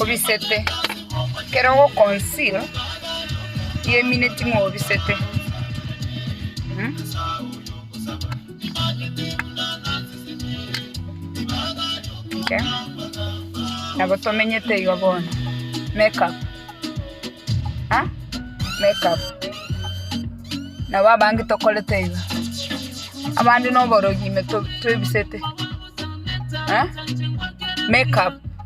Obisete, ekero ogokonsir yemineti ng'a obisete. Okay. Nabo tomenyete igo bono. Make up. Ha? Make up. Nabo abange tokorete igo. Abande noborogi ime to- twebisete. Ha? Make up.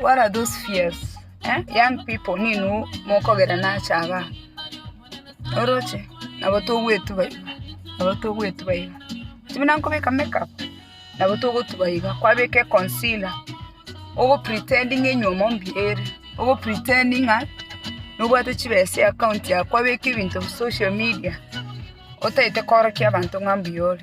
What are those fears? eh? Young people ninu mokogera nache aba oroche nabo togwetuba iga nabo togwetuba iga tibuna nkobeka make up nabo togotuba iga kwabeka econcealer ogo pretendinge enywa mombi ere ogo pretendinga nobwate chibesa eaccount yago kwabeka ebinto social media otaete korokia abanto ng'a mbuya ore.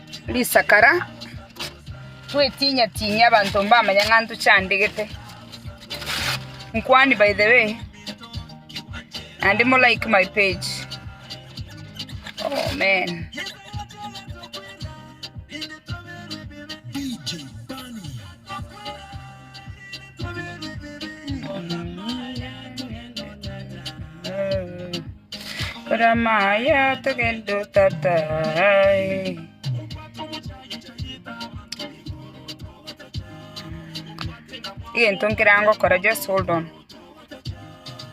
Risakara, Gwetiinyatiinyia abanto mbamanye ng'a ntochandegete. Nkwane by the way, naende mo like my page. Amen. Kore amaya togende o tata eh. egento nkera ngokora just hold on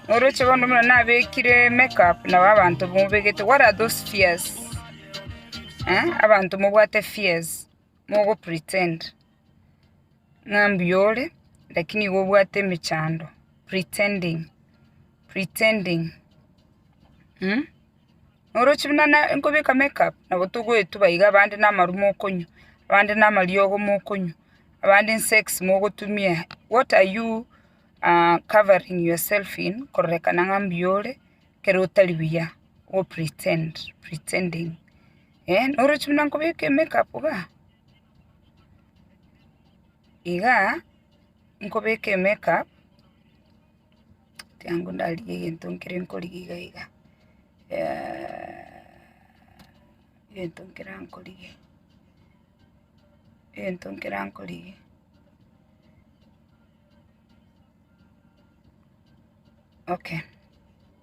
oroche bono buna nabekire makeup nabo abanto mobegete what are those fears eh abanto mobwate fears mogo pretend. Ng'a mbuya ore, lakini igo obwate emechando, pretending, pretending, mh. Noroche buna na nkobeka make up, nabo togoetuba iga abande namaru mokonywa, abande namariogo mokonywa, abande nsex mogotumia, what are you covering yourself in kororekana ng'a mbuya ore, ekero otari buya, go pretend, pretending. Eeh oroche buna nkobeka emake up igaa, igaa nkobeka emake up, tiangu ndarigie egento nkere nkorigia iga iga egento nkere nkorigia, egento nkere nkorigia, okay.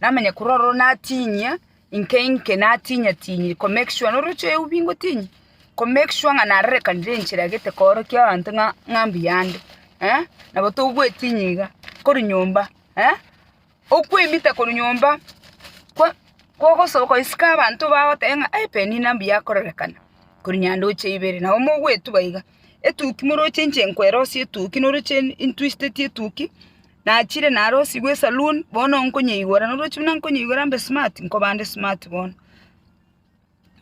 namanye korwa ororo natinyia inke inke natinyia tinyia ko make sure noroche oyio bingotinyia ko make sure ng'a narerekanire enchera egete koorokia abanto ng'a ng'a mbuya ande eh, nabo togwetinyia iga korwa nyomba eh, okwemita korwa nyomba kwa kogosoka goisike abanto bagoteba ng'a eh Penina mbuya akorerekana korwa nyandoche ibere nabo mogwetuba iga, etuki moroche inche nkoerosie etuki noroche in- intwistetie etuki. Nachire narosigwe esaloon, bono nkonyeigwera noroche buna nkonyeigwera mbe smart, nkobande smart bono,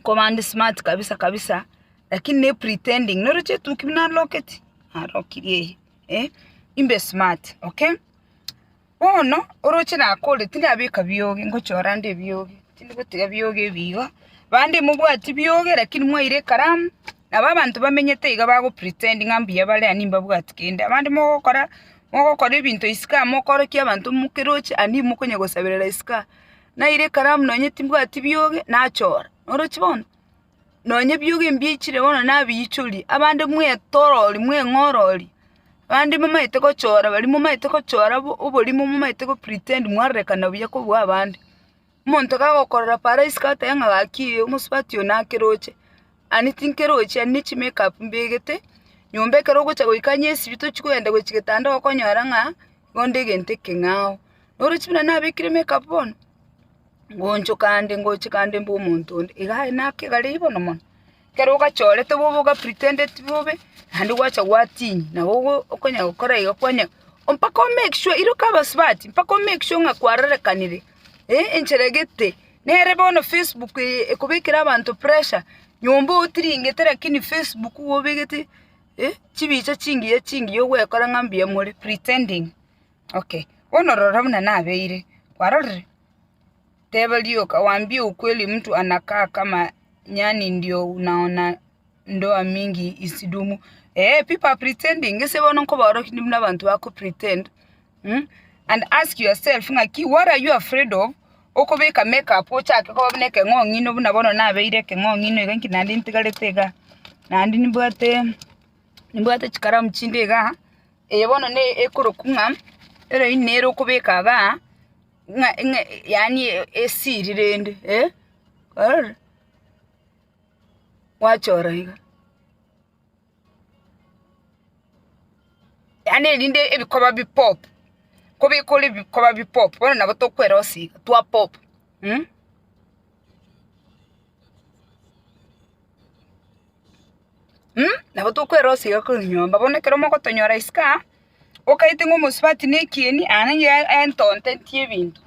nkobande smart kabisa kabisa, lakini ne pretending, noroche etuki buna naloketi, narokirie eye, eh, imbe smart, okay. Bono, oroche nakore tindabeka biogi, ngochora nde ebiogi, tindi gotiga biogi ebi iga, bande mobwati biogi lakini mwaira ekaramu. Nabo abanto bamenyete iga bagopretend ng'a mbuya bare ani mbabwati kende. Abande mogokora, mogokora ebinto isiko amo okorokia abanto mokeroche ani mokonya gosaberera isiko aa. Naira ekaramu nonye timbwati biogi, nachora. Orochi bono? Nonye biogi mbiichire bono nabiichoria, abande mwetorori, mweng'orori, abande momaete gochora baria momaete gochora obo oborimo momaete gopretend mwarorekana buya kobua abande. Omonto kagokorora Faro isiko atebe ng'a gaki ee, omosubati oo nake roche, ani tinkerochie, ani ne chimake-up mbegete nyomba ekero ogocha goika onye esibiti tochi kogenda gochi getanda okonyora ng'a igo nde egento ekeng'ao. Noroche buna nabekire make-up bono, ngochokande ngochekande mbwe omonto onde, iga aye nake gare bono mono. Ekero ogachorete bobe ogapretendeti bobe, naende gwacha gwatinyia, nabo okonya gokora igo kwanya mpaka o make sure, iroka abasubati, mpaka o make sure ng'a kwarorekanire, eh, enchera egete. Nere bono facebook eye ekobekera abanto pressure, nyomba otiringete lakini facebook iga obegete, eh, chibicha chingiya chingiya ogwekora ng'a mbuya more, pretending, okay. Bono rora buna nabeire, kwarorire. Teba rioka, Waambie ukweli mtu anakaa kama nyani ndio unaona ndoa mingi isidumu. Eh, people are pretending. Gese bono nkobora kinde buna abanto bako pretend. Mm? And ask yourself ng'aki what are you afraid of? Okobeka makeup ochake koba buna ekeng'ong'ino buna bono nabeire ekeng'ong'ino iga inki naende ntigarete iga. Naende nimbwate nimbwate chikaramu chinde iga. Eye bono ne ekoroku ng'a eroini nere okobeka igaa. ng'a ng'a yaani esiri rende eh, kwarora? Gwachora iga. Yaani erinde ebikoba bipop, kobekora ebikoba bipop bono nabo tokwerosia iga twa pop mh. Mh nabo tokwerosia iga korwa nyomba bono ekero mogotonyora isiko aa. okaete ng'a omosubati nekieni aa nanye entonto entie ebinto.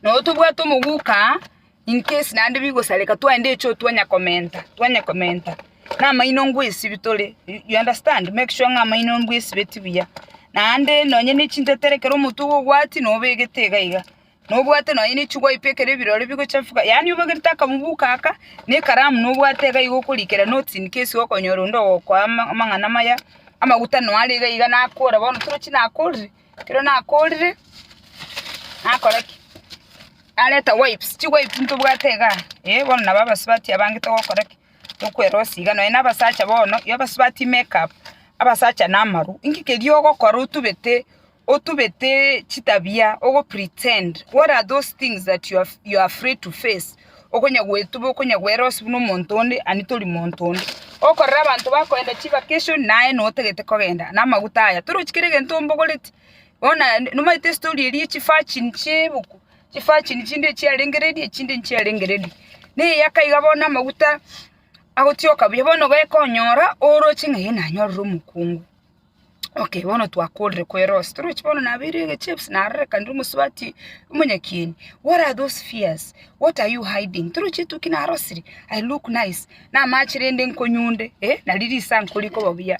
Nabo tobwate omoguka aa in case naende bigosareka twaende echo twanya komenta twanya komenta na amaino ngoesibie tore you understand make sure ng'a amaino mbwaesibeti buya. Naende nonye ne chintetere ekero omoto ogo obwati nobegete iga iga. Nobwate nonya nichi gwaipwa ekero ebirore bigochafuka, yaani obagerete akabuguku aka, na ekaramu nobwate iga iga okorikera notes in case okonyora onde ogokoa ama- amang'ana amaya, amaguta nonya are iga iga nakora bono torochi nakorire, ekero nakorire, nakora ki? Nareta wipes, chiwipes ntobwate iga iga eh, bono nabo abasubati abange togokora ki? Tokwerosia iga, nonya na abasacha bono, abasubati make up, abasacha na amaru, inki keria ogokora otubete Otubete chitabia ogo pretend what are those things that you are, you are afraid to face okonya gwetuba okonya gwera ose buna omonto onde ani tori monto onde okorera abanto bakoenda chi vacation naye notagete kogenda na amaguta aya torochi kere gento ombogoreti bona nomaete story eria echi virgin chibuku chi virgin chinde chiarenge ready echinde nchiarenge ready neyaka iga bono amaguta agotioka buya bono ogekonyora oroche ng'a eh nanyorire omokungu. Okay, bono twakorire kwerosia. Torochi bono nabeire egeche ebisu narorekanire omosubati omonyakieni. What are those fears? What are you hiding? Torochi etuki narosire, I look nice, namache rende nkonyunde, eh, nari risankore ikoba buya.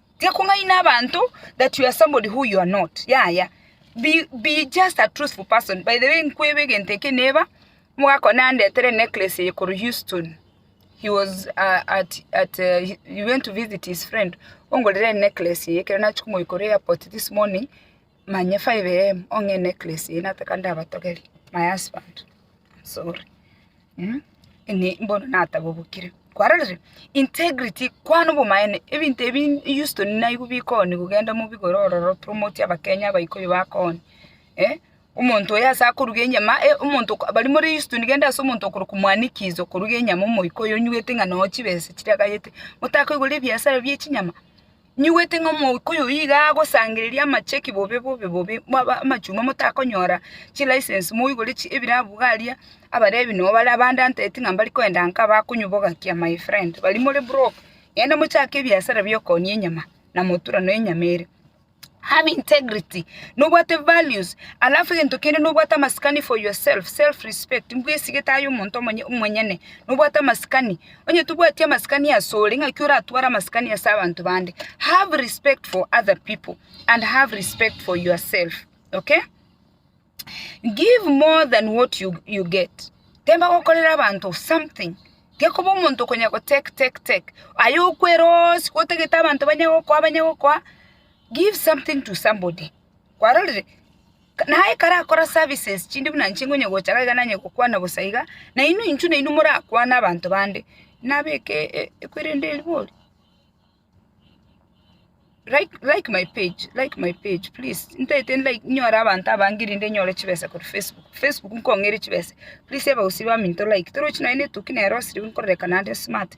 Tiga kong'aina abanto that you are somebody who you are not, yaya. Be, be just a truthful person. By the way, nkweba egento eke neba, omogaka one andetere enecklace eye korwa Houston. He was uh, at, at uh, he he went to visit his friend, ongorere enecklace eye, ekero nachia komoika korwa airport this morning, manye 5am ong'e enecklace eye nataka ndabatogere my husband am sorry mh ime mbono natagobokire kwarorire integrity kwana obomaene ebinto ebi Houston naigwa bikoni kogenda mobigore ororo promote abakenya abaikuyu bakoni eh omonto oyo ase akoruga enyama eh omonto oko baria more Houston genda ase omonto okorokwa mwanikizo okoruga enyama omoika oyo onyugete ng'a noyo chibesa chire agayete motakoigora ebiasara bie chinyama Ninyigwete ng'a omoika oyo iga agosangereria amacheki bobe bobe bobe amachuma motakonyora chilicense moigore ebirabu iga aria abarebi noo bare abande anteti ng'a mbari koenda nka bakonyobogakia my friend bari more broke genda mochake ebiasara bia okonia enyama na motura na enyama ere. Have integrity nobwate values alafu egento kende nobwate amasikani for yourself self respect mbwesigete aye omonto omonyene nobwate amasikani Onye tobwati amasikani asore, ng'aki oratware amasikani ase abanto bande? Have respect for other people and have respect for yourself, okay? Give more than what you, you get. Temba gokorera abanto something. Gekoba omonto okonya go take, take, take. Aye okwera onsi gotagete abanto banya gokoa, banya gokoa. Give something to somebody. Kwarorire? Naye ekero akora services chinde buna inche nkonye gocha iga nanye gokwana bosa iga, na inwe intwe nainwe morakwane abanto bande, nabeke ekwerende erigori? Like like my page like my page please ntaete like nyore abanto abange rinde nyore chibesa korwa Facebook, Facebook nkong'eire chibesa, please abagusii baminto like torochi nonye na etoki nero osiriwu nkororeka naende smart.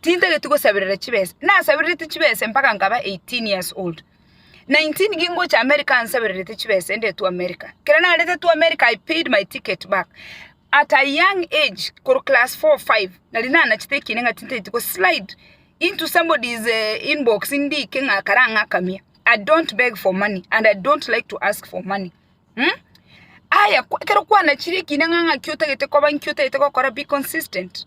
Tintageti gosaberera chibesa. Nasabererete chibesa mpaka nkaba 18 years old. 19 gingocha America nsabererete chibesa ende to America. Kero narete to America I paid my ticket back. At a young age koro class 4, 5 nari nanachete ekiina ng'a tintageti go slide into somebody's eh, inbox ndike ng'a kare ang'akamie. I don't beg for money and I don't like to ask for money. Hmm? Aya, kwa- kero kwanachire ekiina ng'a ng'aki otagete koba nki otagete gokora be consistent.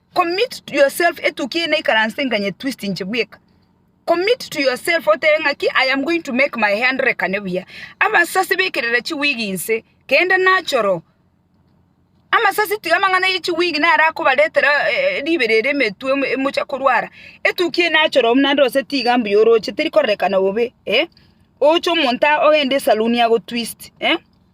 Commit to yourself etukia eye naikaranse nganye twist inche bweka. Commit to yourself otebe ng'aki I am going to make my hair ndorekane buya. Amasasi bekerera chiwig inse kende nachoro. Amasasi tiga amang'ana ye chiwig naro akobaretera eh, ribero ere emetwe emo- emocha korwara. Etukia eye nachoro naende gose tiga mbuya oroche teri kororekana bobe eh. Oche omonto a- ogende esaluni agotwist eh.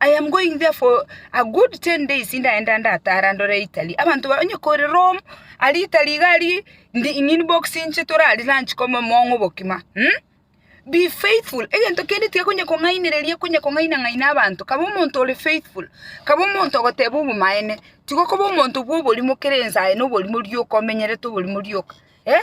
I am going there for a good ten days ndaenda ndataare ande ore Italy. Abanto ba onye kore Rome, ari Italy iga ari in the in inbox inche tore aria lunch kome omong'u bokima. Hm? Be faithful. Egento kende tiga konya kong'ainereria konya kong'aina ng'aina abanto. Kaba omonto ore faithful. Kaba omonto ogoteba obomaene. Tiga okoba omonto bwa oborimo kera ensa aye na oborimo rioka omenyerete oborimo rioka. Eh?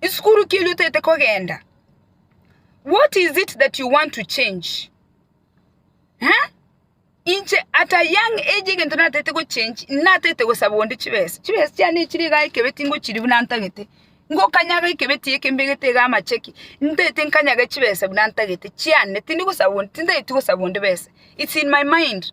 Isukuru ki erio otaete kogenda? What is it that you want to change? Eh? Inche at a young age egento nataete gochange, nataete gosaba onde chibesa. Chibesa chiane chiri iga ekebe tingochiri buna ntagete. Ngokanyaga ekebe tie kembegete iga amacheki. Ntaete nkanyaga chibesa buna ntagete chiane. Tindi gosaba onde, tintaeti gosaba onde besa. It's in my mind.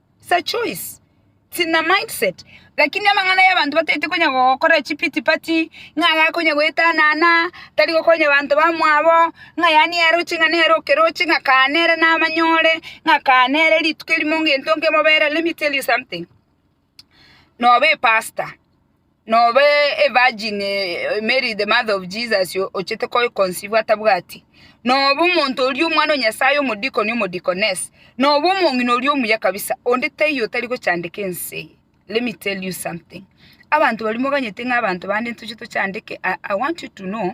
It's a choice, it's in a mindset. Lakini amang'ana y'abanto bataete konya gogokora echipity party, ng'a aye akonya goetanana, tari gokonya banto bamwabo, ng'a yaani yaroche ng'a nere okeroche ng'a kaa nere namanyore, ng'a kaa nere rituko erimo ngento nkemobere, let me tell you something, nobe epastor. Nobe a virgin Mary the mother of Jesus ochete ko conceive atabwati, nobe omonto oria omwana o Nyasaye omodikoni omodikoness, nobe omong'ina oria omuya kabisa, onde taiyo otari gochandeka ense eye. Let me tell you something, abanto baria moganyete ng'a abanto bande ntoche tochandeke, I want you to know,